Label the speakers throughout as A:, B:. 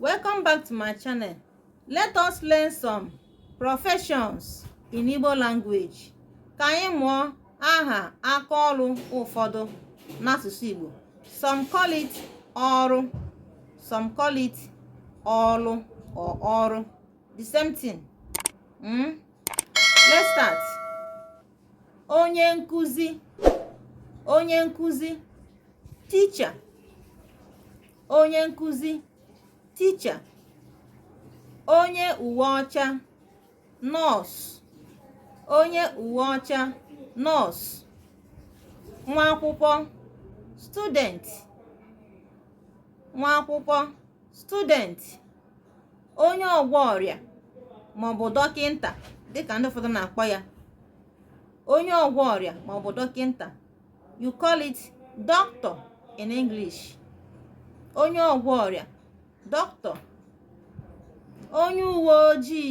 A: welcome back to my channel let us learn some professions in Igbo language ka anyị mụọ aha aka ọrụ ụfọdụ n'asụsụ Igbo some call it ọrụ some call it ọrụ or ọrụ the same thing mm? let's start onye nkuzi onye nkuzi teacher onye nkuzi teacher onye uwe ọcha nurse onye uwe ọcha nurse nwa akwụkwọ student nwa akwụkwọ student onye ọgwọ ọrịa maọbụ dọkịnta dịka ndị ụfọdụ na-akpọ ya onye ọgwọ ọrịa maọbụ dọkịnta you call it doctor in English onye ọgwọ ọrịa doctor onye uwe ojii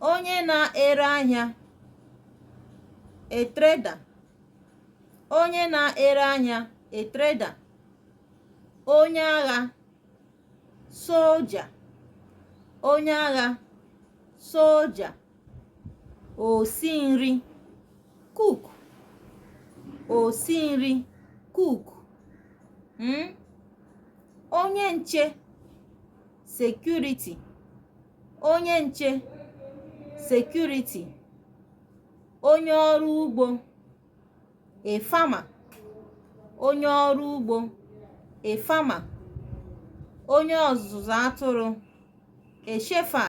A: onye na-ere ahịa a trader onye na-ere ahịa a trader onye agha soldier onye agha soldier osi nri cook osi nri cook hmm? onye nche security onye nche security onye ọrụ ugbo a farmer onye ọrụ ugbo a farmer onye ọzụzụ atụrụ a shepherd